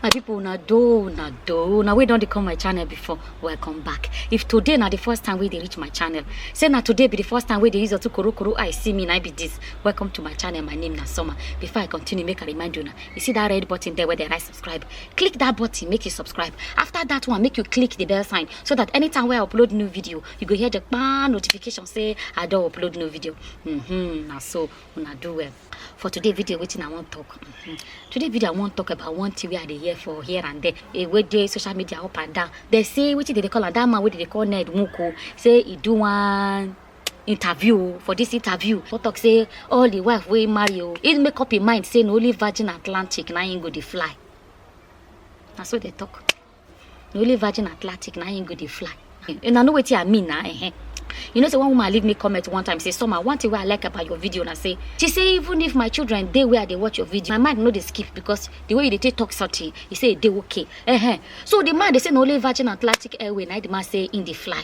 my people una do una do una wey don dey come my channel before welcome back if today na the first time wey dey reach my channel say na today be the first time wey dey use otu korokoro eye see me na I be this welcome to my channel my name na summer before i continue make i remind una you see that red button there where dey write subscribe click that button make you subscribe after that one make you click the bell sign so that anytime wey i upload new video you go hear the kpaa notification say i don upload new video mm -hmm, na so una do well for today video wetin i wan talk mm-hmm. today video i wan talk about one thing wey i dey hear for here and there e wey dey social media up and down dey say wetin dey dey call am that man wey dey dey call ned nwoko say e do one interview for this interview for talk say all the wife wey marry o he make up im mind say na only virgin atlantic na im go dey fly na so dey talk. na only virgin atlantic na him go dey fly una know wetin i mean na eh you know say one woman leave me comment one time say summer one thing wey i like about your video na say she say even if my children dey where i dey watch your video my mind no dey skip because the way you dey take talk something you say e dey okay eh so the man dey say na only virgin atlantic airway na the man say him dey fly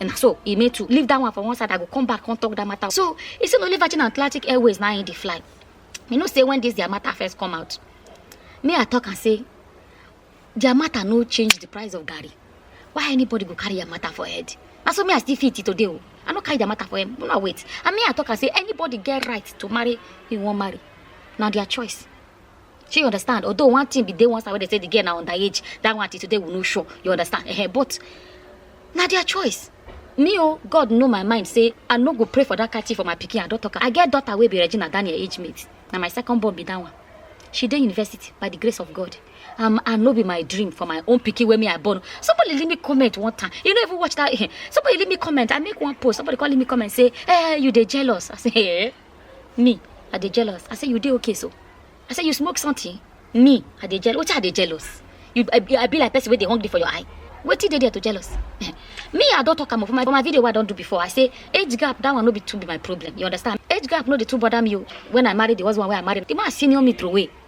And so he made to leave that one for one side. I go come back, come talk that matter. So he said only Virgin Atlantic Airways now in the fly. You know, say when this their matter first come out. Me, I talk and say, their matter no change the price of Gary. Why anybody go carry your matter for head? That's what me I still fit it today. Oh. I no carry the matter for him. No, wait. And me, I talk and say, anybody get right to marry, he won't marry. Now their choice. shey you understand although one thing be dey one side wey dey say the girl na underage that one till today we no sure you understand eh but na their choice me o god know my mind say i no go pray for that kind thing for my pikin i don talk am i get daughter wey be regina daniel age mate na my second born be that one she dey university by the grace of god um, and no be my dream for my own pikin wey me i born somebody leave me comment one time you no even watch that somebody leave me comment i make one post somebody come leave me comment say eh you dey jealous i say eh Me, I dey jealous. I say you dey okay so. I say you smoke something. Me, I dey jealous. What I dey jealous? You, I, I be like person where they hungry for your eye. What did they there to jealous? me, I don't talk am for my, for my video. What I don't do before. I say age gap. That one no be too be my problem. You understand? Age gap no dey too bother me. oh. When I married, there was one where I married. The man senior me throw away.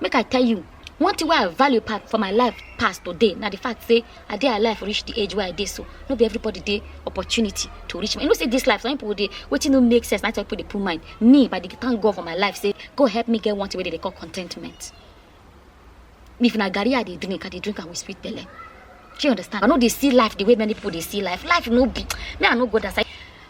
make i tell you one thing wey i value pa- for my life pass today na the fact say i dey alive reach the age wey i dey so no be everybody dey opportunity to reach me you know say this life some people dey wetin no make sense na some people dey put mind me by the thank god for my life say god help me get one thing wey dey dey call contentment if na garri i dey drink i dey drink am with sweet belle shey you understand i no dey see life the way many people dey see life life no be me i no go that side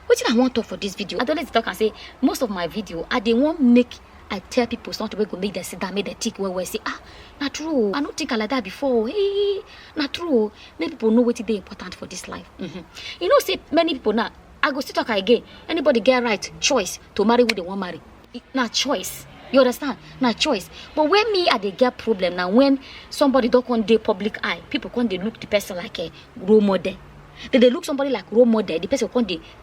wetin i wan talk for this video i dey always dey talk am say most of my video i dey wan make I tell people something wey go make them sit down, make them think well well. Say, ah, na true. oh. I no think am like that before. oh. Hey, na true. oh. Make people know wetin dey important for this life. Mhm. You know, say many people now. I go still talk am again. Anybody get right choice to marry who they want marry. It- Na choice. You understand? Na choice. But when me I dey get problem now when somebody don come dey public eye, people come dey look the person like a role model. They dey look somebody like role model. The person come dey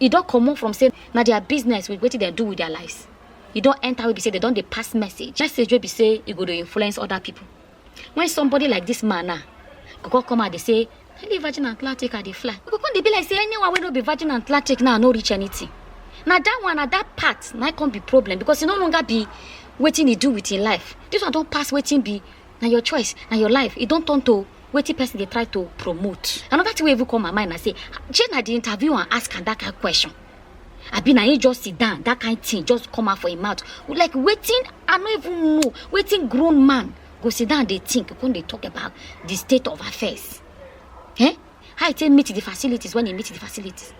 e don comot from say na their business with wetin dem do with their lives e don enter wey be say dem don dey pass message message wey be say e go dey influence other people when somebody like this man now go come come out dey say na the virgin atlantic i dey fly e go come dey be like say anyone wey no be virgin atlantic now no reach anything na that one na that part na come be problem because e no longer be wetin e do with im life this one don pass wetin be na your choice na your life e don turn to wetin person dey try to promote another thing wey even come my mind na say shey na the interview and ask am that kind question abi na him just sit down that kind thing just come out for him mouth like wetin i no even know wetin grown man go sit down dey think come dey talk about the state of affairs eh how e take meet the facilities when e meet the facilities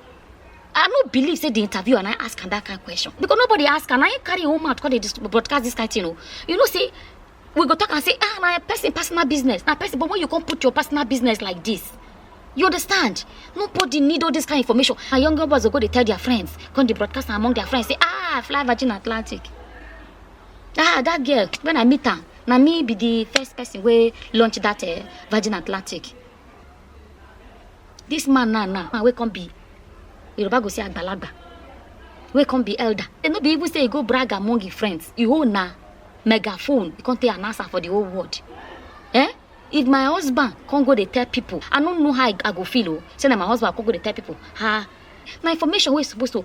i no believe say the interview and i ask am that kind question because nobody ask am na him carry him own mouth come dey dis- broadcast this kind thing o you know say we go talk and say ah na person personal business na person but when you come put your personal business like this you understand nobody need all this kind of information and young girl boys go go dey tell their friends come dey broadcast am among their friends say ah fly virgin atlantic ah that girl when i meet am na me be the first person wey launch that uh, virgin atlantic This man now, now, man, wey come be Yoruba go say agbalagba, wey come be elder. They no be even say he go brag among his friends. He hold na megaphone, he come take announcer for the whole world. Eh? If my husband come go dey tell people, I no know how I, I go feel. Oh, say na my husband come go dey tell people, ah, na information wey suppose to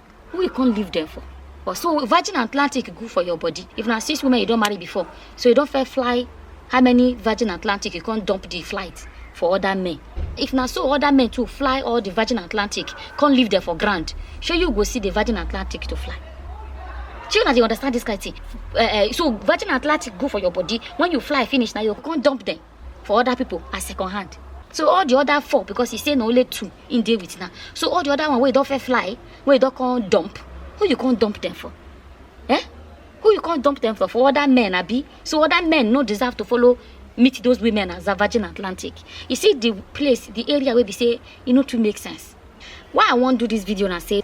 who you come leave them for but so virgin atlantic good for your body if na six women you don marry before so you don fair fly how many virgin atlantic you come dump the flight for other men if na so other men too fly all the virgin atlantic come leave them for ground shey you go see the virgin atlantic to fly shey una dey understand this kind thing uh, uh, so virgin atlantic good for your body when you fly finish na you come dump them for other people as second hand so all the other four because he say na only two in dey with now so all the other one wey don fair fly wey don come dump who you come dump them for eh who you come dump them for for other men abi so other men no deserve to follow meet those women as a virgin atlantic you see the place the area wey be say e no too make sense why i wan do this video na say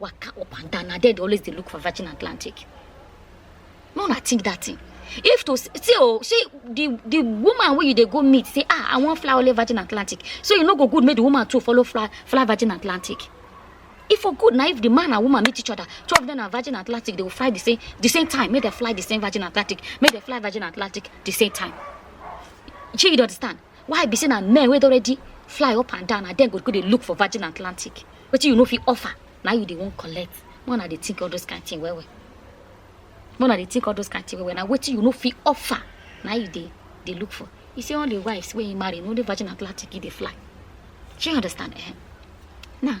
waka up and down na there dey always dey look for virgin atlantic no na think that thing if to see oh see the the woman wey you dey go meet say ah i wan fly only virgin atlantic so e no go good make the woman too follow fly fly virgin atlantic e for good na if the man and woman meet each other two of them na virgin atlantic they go fly the same the same time make dem fly the same virgin atlantic make dem fly virgin atlantic the same time shey you dey understand why be say na men wey don already fly up and down na dem go go dey look for virgin atlantic wetin you no fit offer na you dey wan collect make una dey think all those kind thing well well make una dey think all those kind thing well well na wetin you no fit offer na you dey dey look for he say all the wives wey he marry na only virgin atlantic he dey fly shey you understand eh now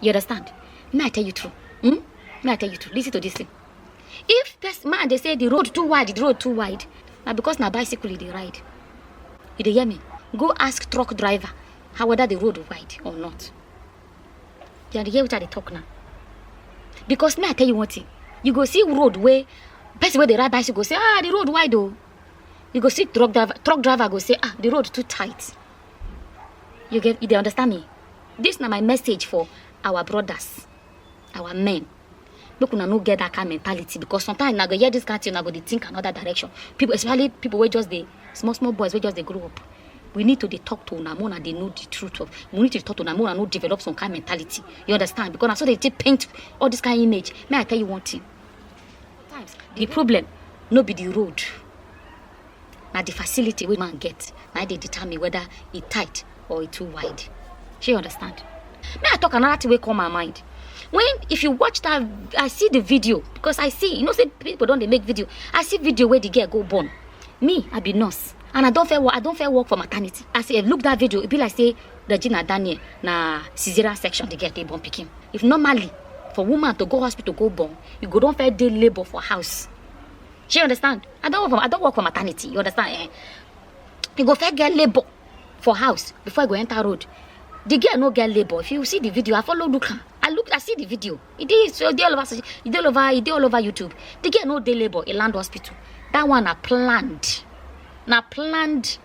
You understand? May I tell you true? Hmm? May I tell you true? Listen to this thing. If this man they say the road too wide, the road too wide, now because na bicycle they ride. You dey hear me? Go ask truck driver how whether the road wide or not. You dey hear what I dey talk now? Because may I tell you one thing? You go see road where person where they ride bicycle go say, ah, the road wide though. You go see truck driver, truck driver go say, ah, the road too tight. You get, you dey understand me? This na my message for our brothers, our men. Make una no get that kind mentality because sometimes na go hear this kind thing, na go dey think another direction. People, especially people wey just dey small small boys wey just dey grow up. We need to dey talk to una, make una dey know the truth of. We need to talk to una, make una no develop some kind mentality. You understand? Because na so they take paint all this kind image. May I tell you one thing? Sometimes the problem no be the road. na the facility wey man get na dey determine whether e tight or e too wide shey you understand me i talk another thing wey come my mind when if you watch that i see the video because i see you know say people don dey make video i see video wey the girl go born me i be nurse and i don fair work i don fair work for maternity as i look that video e be like say regina daniel na caesarean section the girl dey born pikin if normally for woman to go hospital go born you go don fair dey labour for house She understand? I don't work for I don't work for maternity. You understand? Eh? You go first get labor for house before I go enter road. The girl no get labor. If you see the video, I follow look her. I look, I see the video. It is it dey all over, it dey all over, it dey all over YouTube. The girl no dey labor. It land hospital. That one na planned, na planned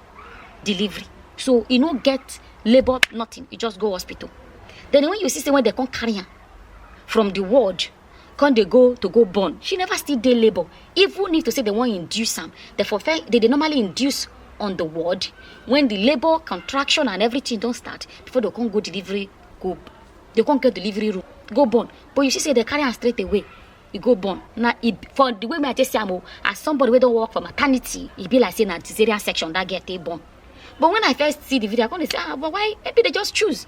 delivery. So you no get labor, nothing. You just go hospital. Then when you see say when they come carry am from the ward come dey go to go born she never still dey labour even if to say they wan induce am they for first they dey normally induce on the ward when the labour contraction and everything don start before they come go delivery go they come get delivery room go born but you see say they carry am straight away e go born na e for the way me i take see am o as somebody wey don work for maternity e be like say na cesarean section that girl take born but when i first see the video i come dey say ah but why maybe they just choose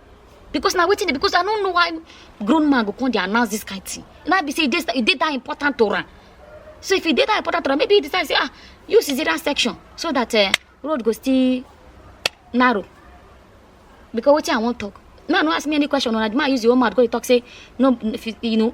because na wetin dey because i no know why grown man go come dey announce this kind thing na be say e dey e dey that important to am so if e dey that important to am maybe he decide say ah use cesarean section so that uh, road go still narrow because wetin i wan talk now no ask me any question una the man use your own mouth go dey talk say no if you, you know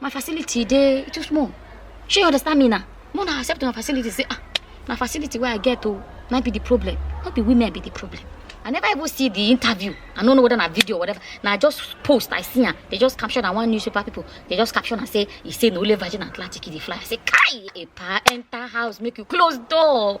my facility dey too small shey you understand me na more na accept una facility say ah na facility wey i get o na be the problem no be women be the problem i never even see the interview i no know whether na video or whatever na just post i see am they just caption am one newspaper people they just caption am say e say na only virgin atlantic e dey fly i say kai epa enter house make you close door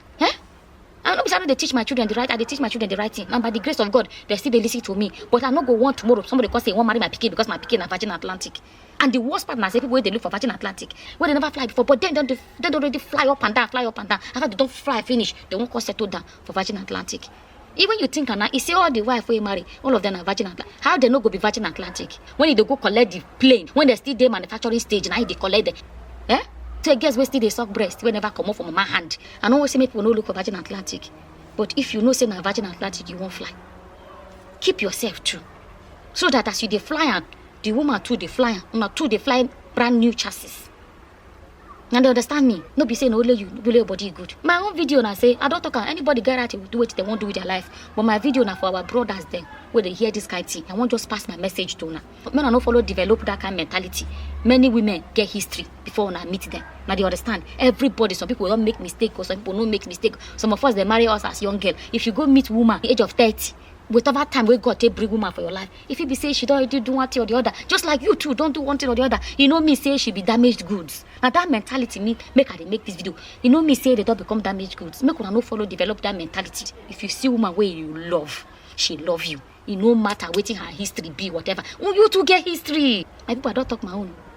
Eh? I no be say I no dey teach my children the right, I dey teach my children the right thing. And by the grace of God, they still dey listen to me. But I no go want tomorrow somebody come say he wan marry my pikin because my pikin na Virgin Atlantic. And the worst part na say people wey dey look for Virgin Atlantic, wey dey never fly before, but then don dey don already fly up and down, fly up and down. After they don fly finish, they wan come settle down for Virgin Atlantic. even you think am na e say all the wife wey marry all of them na virgin and Atla- how dem no go be virgin atlantic when e dey go collect the plane when dem still dey manufacturing stage na e dey collect dem eh so girls wey still dey suck breast wey never comot for mama hand i no wan say make people no look for virgin atlantic but if you know say na virgin atlantic you wan fly keep yourself true so that as you dey fly am the woman too dey fly am una too dey fly brand new chassis and they understand me no be say na only you only your body good my own video na say i don talk am anybody get right to do wetin dem wan do with their life but my video na for our brothers dem wey dey hear this kind thing i wan just pass my message to una make una no follow develop that kind mentality many women get history before una meet them na dey understand everybody some people don make mistake or some people no make mistake some of us dey marry us as young girl if you go meet woman age of thirty whatever time wey god take bring woman for your life e fit be say she don already do one thing or the other just like you too don do one thing or the other e no mean say she be damaged goods na that mentality mean make i dey make this video e no mean say they don become damaged goods make una no follow develop that mentality if you see woman wey you love she love you e no matter wetin her history be whatever you too get history my people i don talk my own.